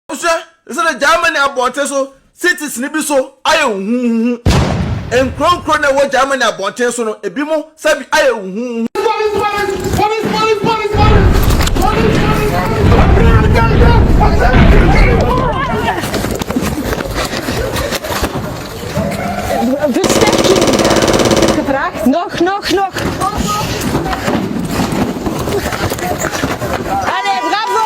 Wohwɛ te sɛ na Germany abɔnten so cities no bi so ayɛ huhuuhu. Nkurow nkurow na ɛwɔ Germany abɔnten so no, ebinom sɛ bi ayɛ huhuuhu. Noch, noch, noch. Allez, bravo!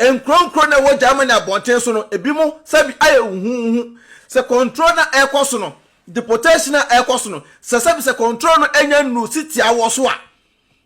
Nkurow nkurow na ɛwɔ Germany abɔnten so no, ebinom nsa bi ayɛ huhuuhu. Sɛ kɔntrol no a ɛrekɔ so no, deportation a ɛrekɔ so no, sɛ sɛbi sɛ kɔntrol no anya nnuru si tia wo so a,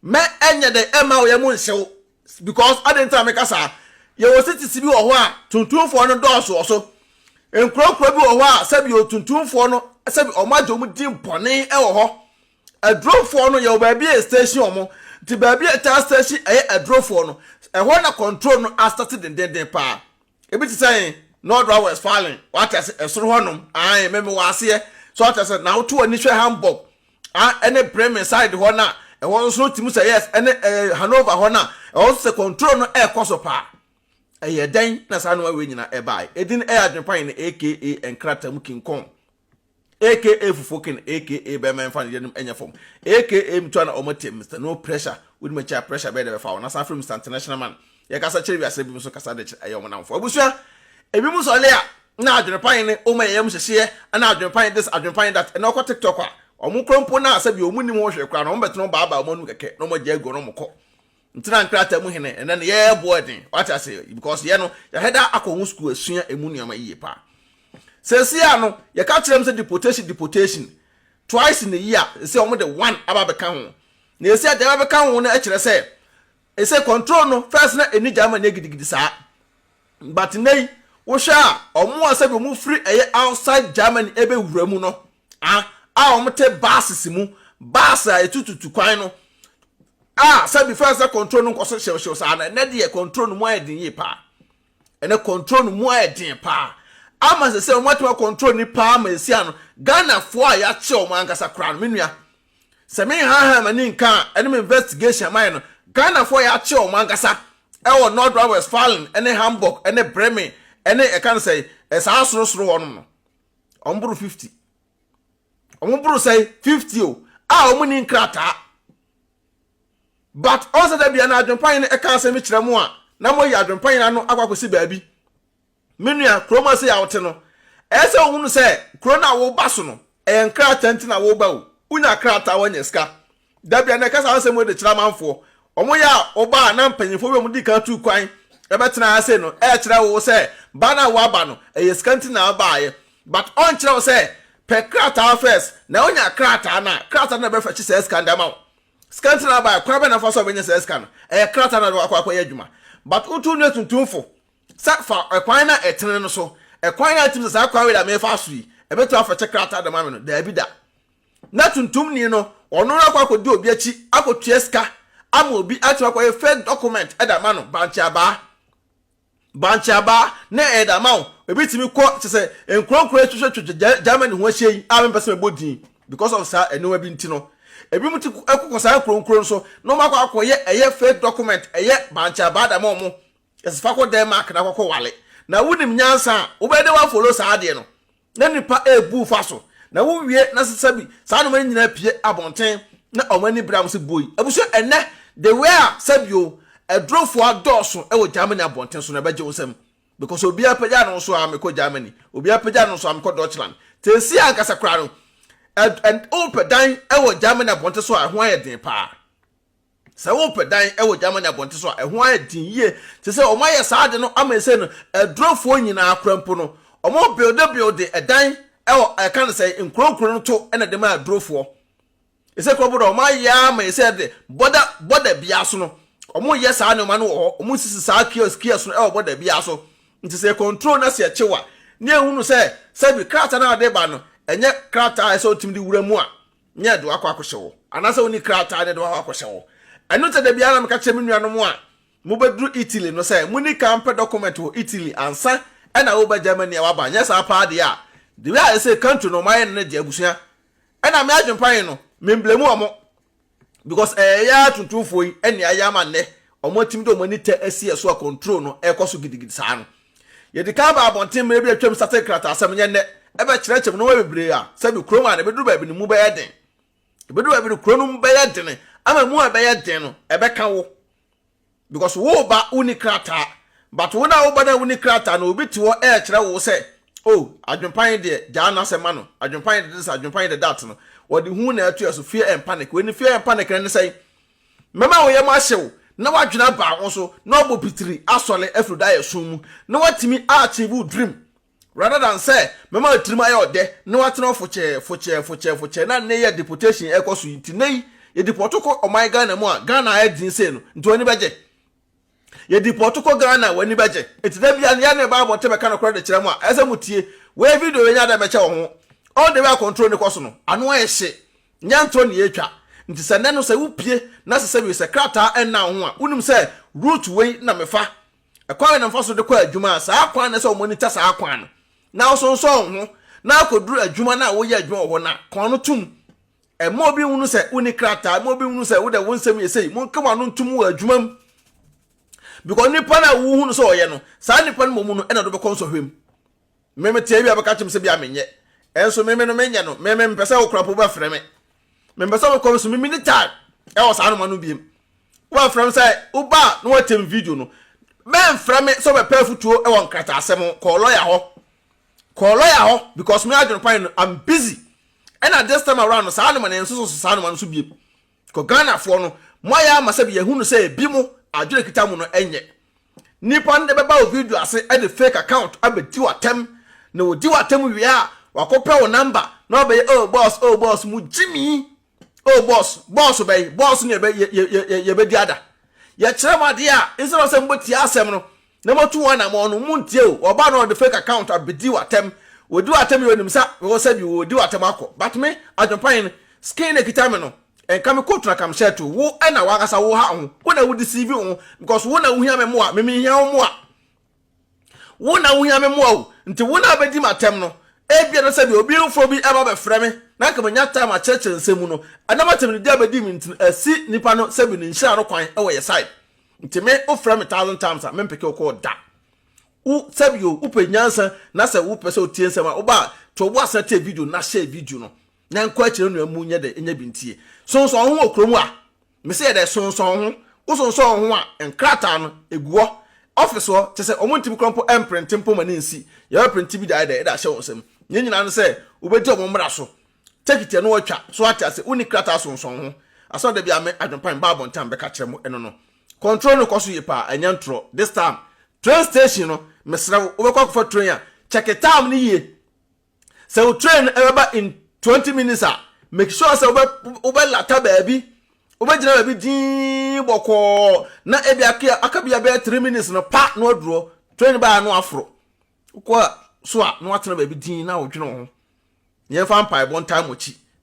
mɛ ɛnyɛ dɛ ɛmma wo yam nhyɛ wo. Because adɛn nti na meka saa? Yɛwɔ cities bi wɔ hɔ a tuntumfoɔ no dɔɔso wɔ so. Nkurow nkurow bi wɔ hɔ a sɛbi otuntumfoɔ no sɛbi wɔn agye wɔn din bɔne wɔ hɔ. Adurofɔɔ no yɛwɔ baabi a yɛ station wɔn nti baabi a yɛ taa station ɛyɛ adurofɔɔ no ɛhɔ na control no asate dendenden paa ebi te sɛ ɛn nɔdra west falling wate ase ɛsoro hɔ nom ae mɛmɛ wɔ aseɛ so wate ase na woto wɔ nihwɛ hamburg a ɛne bremen side hɔ na ɛhɔ nso no timu sɛ yes ɛne ɛɛ eh, hanover hɔ na ɛhɔ nso sɛ control no ɛɛkɔ so paa ɛyɛ dɛn na saa nneɛma wei nyinaa ɛbae edin ɛyɛ adwempa yɛn aka nkratamu kinkɔn AKA fufuo ken AKA bɛma ɛmfa ne yanom ɛnyɛ fam AKA mtua na ɔmo te Mister No Pressure wodi m'akyi a pressure bɛyɛ dɛ bɛfa wo na san frɛ Mister International Man yɛkasa kyerɛ wiase binom nso kasa de kyerɛ ɛyɛ ɔmo nnamfoɔ abusua ebinom nso ɔlɛ a na adwene pa ne ɔmo ɛyɛ ɔmo hyehyeɛ ɛna adwene pa this adwene pa that ɛna ɔkɔ TikTok a ɔmo korɔ mpo na sɛbi ɔmo nnim ho hwee koraa no ɔmo bɛtena ɔmo baa baa ɔmo anum kɛkɛ na ɔmo agya agu ɔno ɔmo kɔ Ntena nkrataa mu hene ɛnɛ no yɛ boɔ ɛden wate ase because yɛ no yɛ hɛda akɔ ho school asua ɛmu nneɛma yie paa sɛsi a no yɛ ka kyerɛ m sɛ deportation deportation twice in a year ɛsɛ wɔn de one aba bɛka ho na ɛsɛ a deɛ bɛka ho no ɛkyerɛ sɛ ɛsɛ control no first na ɛni gyama nyɛ gidigidi saa but nɛyi wohwɛ a wɔn a sɛbi wɔn firi ɛyɛ outside Germany ɛbɛ wura mu no a a wɔte buses mu bus a etututu kwan no a sɛbi fɛn sɛ control no nkɔ so hyewhyew saa na ɛnɛ deɛ control no mu ayɛ den yie paa ɛnɛ control no mu ayɛ den paa ama sɛ sɛ wɔn atuma control ni paa ma esi ano ghanafoɔ a yɛakyɛ wɔn ankasa koraa no me nua sɛ me nhahan ma ne nka a ɛne me investigation ama yɛ no ghanafoɔ a yɛakyɛ wɔn ankasa ɛwɔ north rhine westfalen ɛne hamburg ɛne bremen ɛne ɛka no sɛ ɛsaa sorosoro hɔ nom no wɔn boro fifty wɔn boro sɛn fifty o a wɔn ni nkrataa but ɔn sɛ dɛ bia na adwempanyin no ɛka asɛm bi kyerɛ mo a na mo yi adwempanyin ano akɔ akɔsi baabi me nua kurom ase yɛ awote no ɛyɛ sɛ ohunu sɛ kuro no a wɔba so no ɛyɛ nkrataa nti na wɔba o wonya krataa wɔnyɛ sika Da bia na ɛka saa nsɛm wei de kyerɛ amanfoɔ. Wɔn yɛ a wɔba a na mpanyinfoɔ bi a wɔdi kan tuu kwan bɛtena ase no ɛrekyerɛ wo sɛ ba no a waba no ɛyɛ sika nti na abaeɛ but ɔnkyerɛ wo sɛ pɛ krataa first na wonya krataa no a krataa no na ɛbɛfɛkye saa sika no de ama wo. Sika nti na abaeɛ kwan bɛn na fa so a wobɛnya saa sika no ɛyɛ krataa na de wakɔ akɔyɛ adwuma but wotu nua tuntumfo sɛ fa ɛkwan no a ɛtene no so ɛkwan a ɛtumi sɛ saa kwan wei na mefa so yi ɛbɛtumi afɛkye krataa de ma me no daabi da. na tuntumni no ɔno ara kɔ akɔdi obi akyi akɔtua sika ama obi atumi akɔyɛ fake document ɛde ama no bankye abaa bankye abaa na ɛde ama wo ebi tumi kɔ kyɛ sɛ nkuronkuro atwitwitwitwa germany ho ahyia yi a mempɛ sɛ mebɔ din because of saa nneɛma bi nti no ebi mu ti kɔkɔ saa nkuronkuro no so na wɔn akɔ akɔyɛ ɛyɛ fake document ɛyɛ bankye abaa da ma wɔn ɛsɛ fa kɔ denmark na akɔkɔ wale na wonim nyansa a wobɛyɛ dɛ wafolo saa adeɛ no na nnipa rebu fa so. Na wowie na sɛsɛbi saa nneɛma no nyinaa pie abɔnten na wɔn ani bere a wɔsi buo yi. Abusua ɛnɛ de wei a sɛbio adurofo adɔɔso wɔ Germany abɔnten so na ɛbɛgye wo nsam. Because obiara pagya no nso a mekɔ Germany, obiara pagya no nso a mekɔ Deutschland. Tesi ankasa koraa no, wopɛ dan wɔ Germany abɔnten so a ɛho ayɛ den paa. Sɛ worepɛ dan wɔ Germany abɔnten so a, ɛho ayɛ den yie. Te sɛ wɔayɛ saa ade no ama ɛsei no, adurofoɔ nyinaa koraa mpo no, wɔbuildebuilde ɛdan wɔ yɛka no sɛn, nkuro nkuro no to na de ma adurofoɔ. Ɛsei koraa mpo no, wɔayɛ ara ma ɛsei ɛde bɔda bɔda biara so no, wɔyɛ saa nneɛma no wɔ hɔ. Wɔsisi saa kiosk kiosk no wɔ bɔda biara so. Nti sɛ yɛcontrol na sɛ yɛkye wo a, na yɛhunu sɛ sɛbi krataa no a wɔde ba no, ɛnyɛ krataa a ɛsɛ sɛ wotumi de wura mu a, Nyɛ ɛde wakɔ akɔhyɛ hɔ. Anaasɛ wonni krataa na ɛde wakɔ akɔhyɛ hɔ. Ɛno nti da biara na meka kyerɛ me nuanom a mobɛduru Italy no sɛ monni kan mpɛ dɔkɔmɛnt wɔ Italy ansa na woreba Germany a woaba. Anyɛ saa paa deɛ a, the way a ɛsɛ country no wɔayɛ no no deɛ abusua na me adwempan no me mblame wɔn because ɛyɛ yɛn ara tuntumfoɔ yi na ɛyɛ ama nnɛ wɔatumi de wɔn ani tɛ asi yɛn so a control no ɛrekɔ so gidigidi saa no. Yɛde kan baa abɔnten mmere bi a atwam sa sɛ nkrataasɛm nyɛ nnɛ. Ɛbɛkyerɛkyerɛ mu nneɛma bebree a sɛbi kurow mu a na ebeduru baabi no mu bɛyɛ den. Ebeduru baabi no kurow no mu bɛyɛ den ama emu a ɛbɛyɛ den no ɛbɛka wo because woreba wonni krataa but wo no a woba no a wonni krataa no obi te hɔ ɛrekyerɛ wo sɛ oh adwempa yi deɛ gyaa no asɛ ma no adwempa yi de this adwempa yi de that no wɔde hu na ɛto yɛ so fear and panic wei ne fear and panic no ne sɛn Mɛma wo yam ahyew na woadwene aba wo so na woabɔ pitiri asɔre afiri daeɛso mu na woatumi akyee wo dream rather than sɛ mɛma w'atirim ayɛ ɔdɛ na woatena hɔ fokyɛɛ fokyɛɛ fokyɛɛ fokyɛɛ na nnɛ yi a deportation ɛrekɔ so yi nti nnɛ yi yɛdepɔto kɔ ɔman Ghana mu a Ghana ayɛ den sei no nti w'ani bɛgye Yɛ depɔɔto kɔ Ghana a w'ani bɛgye. Nti da biaa no yɛne ne Bible te bɛka nokorɛ de kyerɛ mo a ɛsɛ mo tie. Wei video wei nyɛ adɛn bɛkyɛ wɔ ho. All the way a control ni kɔ so no ano ayɛ hye. Nyɛ ntorɔ ne yɛretwa. Nti sɛ nnɛ no sɛ wo pie na sɛ sɛ wie sɛ krataa ɛnna wo ho a wonim sɛ route wei na me fa. Ɛkwan wei na mefa so de kɔ adwuma a saa kwan no ɛsɛ wɔmonitor saa kwan no na wosonsɔn wo ho na akɔduru adwuma no a woyɛ adwuma wɔ hɔ no a kɔn no tom. Mma obi nhunu sɛ wonni krataa. Mma obi nhunu sɛ wode wo nsɛm yɛ sei. Monka mo ano ntom wɔ adwuma mu. Because nipa no a wohu no sɛ ɔyɛ no, saa nipa no mmom no ɛna ɔde bɛkɔ nsɔhwɛ mu. Meme tea bi a bɛka kyem sɛ bi a menyɛ. Ɛnso meme no menyɛ no. Meme mpɛ sɛ okura po bɛfrɛ me. Mempɛ sɛ mekɔ so mimi ne time ɛwɔ saa noma no biem. Wobɛfrɛ me sɛ woba a na woatem video no. Mɛmfrɛ me sɛ wobɛpɛ afutuo ɛwɔ nkrataasɛm ho kɔɔ lɔya hɔ. kɔɔ lɔya hɔ because me adwene kwan no I'm busy ɛna this time around no saa noma no yɛnsoso so saa noma no so biem because Ghanafoɔ no mo ayɛ ama sɛbi yɛhu no sɛ ebi mo adwene kita mo no ɛnyɛ nipa no de bɛba wo video ase ɛde fake account abɛdi w'atɛm na wɔdi w'atɛm wie a wakɔpɛ wo number na wabɛyɛ oh boss oh boss mo gyimii Oh, boss, boss bɛyi, boss ne yɛbɛdi ada. Yɛkyerɛ mo adeɛ a, instead of sɛ mobɛtie asɛm no, na motu wɔn anamɔ no, montie o. Ɔba na ɔde fake account abɛdi w'atɛm. Wɔdi w'atɛm yɛ onim sa, wɔ sɛ bi wɔdi w'atɛm akɔ. But me, adwempan no, skin na kita me no, nka me coat na kam shirt o. Wo ɛna w'ankasa wo ha ho, wo na wo deceive wo ho because wo na wohia me mmoa, me menhia wo mmoa. Wo na wuhia me mmoa o, nti wo na abedi me atɛm no. Ebia na sɛ deɛ obi foforɔ bi ɛba bɛfrɛ me na anka menya time akyerɛkyerɛ nsɛm mu no, ɛnam atɛmnidi a bedi me nti no asi nipa no sɛbi ne nhyira no kwan wɔ yɛ side. Nti me wo frɛ me thousand times a mempeke wo call da. Wo sɛbi o, wopɛ nyansa na sɛ wopɛ sɛ otie nsɛm a, woba a, to wo bo ase na tie video no na share video no. Na nkɔ akyire no na ɛmu nyɛ dɛ nyɛ bintie. Sonsɔn ho wɔ kurom a. Mese yɛ dɛ sonsɔn ho. Wo sonsɔn wo ho a, nkrataa no, ɛgu hɔ. Office hɔ, kyerɛ sɛ wɔn ntumi korɔ mpo mprente mpo ma no nsi. Yɛbɛ prente bi de ayɛ dɛ de ahyɛ wɔn nsam. Nea nyinaa ne sɛ wobɛdi wɔn mmara so. Take it ɛno ɔtwa. So woate ase? Wonni krataa sonsɔn ho. Asɛm a da biara me, Adwempa, mebaa abɔnten a mebɛka kyerɛ mo ɛno no. Control no kɔ so yie paa, ɛnyɛ ntorɔ. This time, train station no, mesrɛ wo, wobɛkɔ akɔfa train a, check time no yie. Sɛ wo train ɛbɛba in twenty minutes a, make sure sɛ wobɛ wobɛ lata baabi, wobɛgyina baabi dinn bɔkɔɔ na ebi aka aka bi abɛyɛ three minutes no pa na waduro train baa no aforo. Wokɔ so a na watena baabi dinn na wodwene wo ho. Yɛmfa mpaebɔ ntaa mo akyi.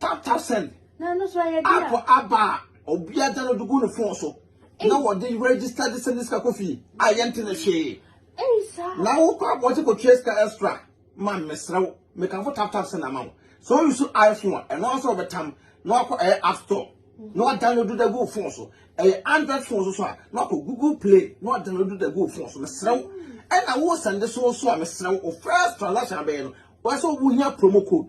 Tap-tap send app aba a obiara download de gu ne phone so na wɔde register de send sika kɔ fie a yɛnte ne hwee. Na wokɔ abɔnten kɔtua sika extra ma mesrɛ wo mekamfo tap-tap send ama wo. Sɛ woyi so iPhone a ɛno ara sɛ wɔbɛtam na wakɔ ɛyɛ app store na wadownload de agu wo phone so. Ɛyɛ Android phone so so a na wakɔ Google Play na wadownload de agu wo phone so mesrɛ wo. Ɛna wo send so nso a mesrɛ wo first transaction abɛyɛ no wɔsɛ wohia promo code.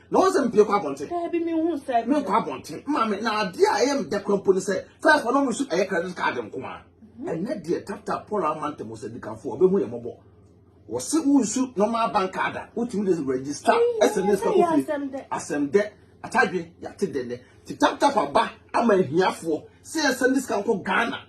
na wɔn sɛ mpie kɔ abɔnten daabi mi hu sɛ mi kɔ abɔnten maame na adeɛ a ɛyɛ mda kura mpo ne sɛ fɛs wɔn mu nso ɛyɛ credit card nko a mhm. ɛnɛ deɛ tata paul amanta mu sɛ dikanfo ɔbɛhu yɛ mɔbɔ wɔsi wusu normal bank card a wotumi de register ɛsɛ ne sika kofi asɛm dɛ atadwe yate dɛ dɛ ti tap tap aba ama ahiafoɔ sɛ yɛsɛ ne sika nkɔ ghana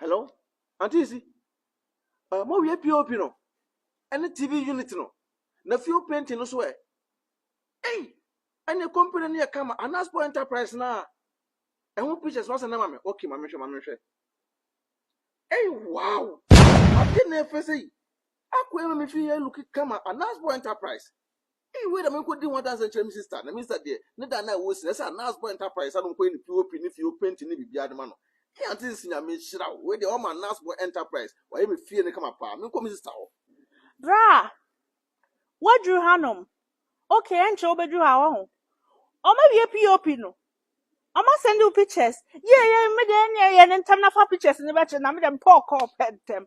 Hello auntie isi uh, mo wie pop no ɛne tv unit no na fuel painting no so ɛ ɛyi ɛne company no yɛ kama anaspo enterprise na ɛho pictures no asɛ na ma me okay ma mehwɛ ma mehwɛ ɛyi wow ade na ɛfɛ sɛ yi akɔ ɛma me fi yɛ look kama anaspo enterprise Ei wei na menkɔdi ho adanseɛ nkyerɛ me sista, na me sista deɛ ne da no a ɛwɔ si no ɛsɛ a Nurse Boy Enterprise a no nkɔyɛ ne POP ne fie painting ne biribiara de ma no. Ei Aunties Nyame nhyira wo, wei deɛ wɔma Nurse Boy Enterprise wayɛ me fie no kama paa, menkɔ me sista hɔ. Braa! Woaduru hanom? Ok, ɛnkyɛ wobɛduru ha wahu. Wɔawie POP no? Wɔasɛnde wo pictures? Yie yie, me deɛ ɛnneɛ yɛ no ntɛm na fa pictures no bɛkyerɛ na me deɛ mepɛ ɔkɔɔ pɛ ntɛm.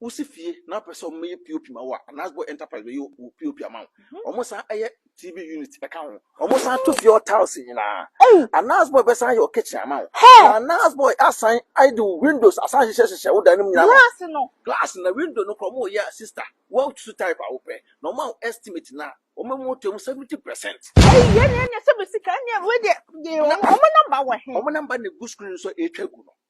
Wosi fie na wopɛ sɛ wɔyɛ POP ma wo a, Anasbo Enterprise bɛyɛ wo POP ama wo. Mhm. Wɔsan yɛ TV unit ka ho. Wɔsan to fie hɔ tiles nyinaa. Ei! Anasbo bɛsan yɛ wo kitchen ama wo. Hɛ! Na Anasbo asan ayɛ de wo windows asan hyehyɛ hyehyɛ wo dan no mu nyinaa. Glass no. Glass na window no kora wɔyɛ a sister, woatutu type a wopɛ. Na wɔma wo estimate no a, wɔma mu to mu 70%. Ei, yɛn na yɛnyɛ sɛ bɛ sika, ɛnneɛ wei deɛ, yɛ wɔn, wɔn namba wɔ he? Wɔn namba na egu screen so a ɛretwa gu no.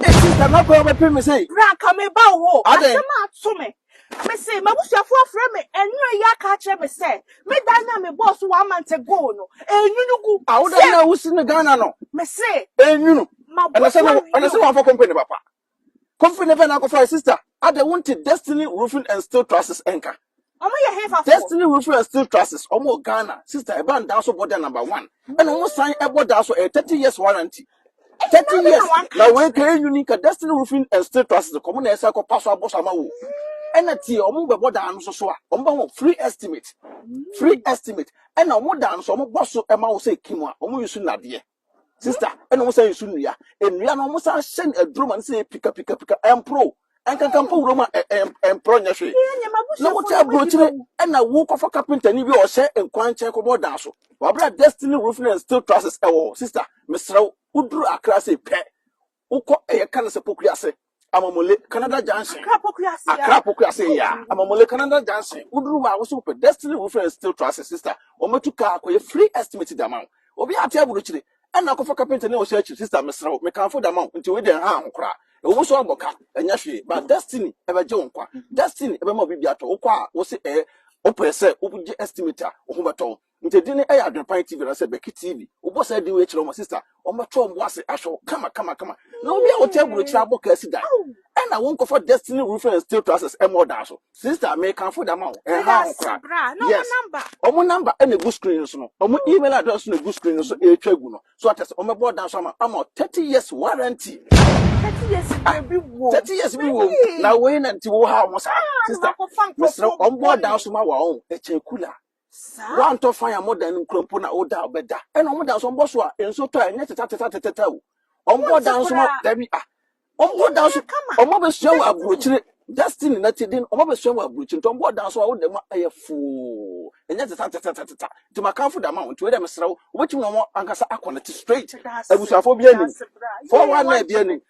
Esi sɛ na bere bɛpem me sei. Bra ka me ba wo. Adɛn? Asɛm ato me. Me se m'abusuafo afrɛ me anwumerɛ yi aka akyerɛ me sɛ me dan no a me bɔɔ so wɔ Amante Goal no ɛrenwunu gu. A wo dan no a wosi no Ghana no. Me se. Ɛrenwunu. Ɛna sɛ M'abusua ɛna sɛ wii o. wɔamfa company papa. Company bɛn na akɔfae sister? Adɛn wonte Destiny Roofing and Steel Trusses nka? Ɔmo yɛ hefa fo? Destiny Rufin and Steel Trusses, ɔmo wɔ Ghana, sister ɛbaa daa so bɔ da number one, ɛna ɔmo san ɛbɔ daa so ɛyɛ thirty years warranty, thirty years, na wei nka yɛ uni nka Destiny Rufin and Steel Trusses nka ɔmo na ɛsan kɔ pa so abɔ so ama wo, ɛna tie ɔmo bɛ bɔ daa no so so a, ɔmo bɛ ho free estimate, free estimate, ɛna ɔmo daa no so ɔmo bɔ so ɛma wo sɛ kim a, ɔmo use nnadeɛ. Sister, ɛna wɔn san nsu nnua. Nnua no wɔn san hyɛ no aduro ma no sɛ pika pika pika ɛmporo. Ɛnkankan mpo wuram a ɛmporo nyɛ hwee. Na wote aburokyire ɛna wokɔfa kapentani bi a ɔhyɛ nkwankyɛn kɔbɔ dan so. Wabra destiny roofing and steel trusses ɛwɔ hɔ. Sister, mesrɛ wo, woduru Accra sei pɛ, Wokɔ ɛyɛ ka no sɛ Pokuase, Amamule, Canada Junction. Accra Pokuase a. Accra Pokuase a. Amamule, Canada Junction. Woduru hɔ a, wosɛ wopɛ Destiny Roofing and Steel Trusses, sister. Wɔbɛtu kaa akɔyɛ free estimate de ama wo. Obiara ate aburokyire. Ɛnna akɔfa kapentani a ɔhyɛ akyiri, sister, mesrɛ wo, mekamfo de ama wo, nti wei deɛ nha ho koraa. Ɛwɔ mu sɛ woabɔ ka, ɛnyɛ hwee, but Destiny bɛgye wo nkwa. Destiny bɛma wo biribi atɔ. Wokɔ a, wose ɛɛ, wopɛ sɛ wogye estimate a, wo ho bɛtɔ wo. Nti edin no yɛ Adwenpan TV anaasɛ Bɛki TV. Wobɔ saa din wei kyerɛ wɔn a, sista, wɔbɛto wɔn bo ase ahwɛ wo kama kama kama. Na obi a ɔte aburokyiri abɔ kaa si dan, ɛna wonkɔfa Destiny Roofing and Steel Trusses mmɔ ɔdan so. Sista, mekamfo de ama wo, ɛnhaw ho koraa. Yes, wɔn number na egu screen no so no, wɔn email address nso na egu screen no so ɛretwa agu no. So ate ase, wɔbɛbɔ ɔdan so ama ama wo 30 years warranty. Thirty years Ah, biribi wɔ. 30 years bi wɔ mu. Na wei na nti wohaw ho saa. Sista, mesrɛ wo, wɔbɔ ɔdan so ma wo a, ɔn, ɛkyɛn kula. Woantɔ fan a modɛn no nkura mpo na woda a wobɛda. Ɛna wɔn da nso wɔbɔ so a nsuo tɔ a ɛnyɛ tetɛtetɛtetɛtɛ o. Wɔbɔ da nso ma dabi a. Wɔbɔ da nso wɔn abɛsua wɔ aburokyire destiny na ti den wɔn abɛsua wɔ aburokyire nti wɔbɔ da nso a woda mu a ɛyɛ foo ɛnyɛ tetɛtetɛtetɛtɛ nti makanfo da ma wɔn nti wei dɛ mesrɛ wo wobɛtumi na wɔn ankasa akɔ ne te straight abusuafoɔ bi anim fɔwa na ebi anim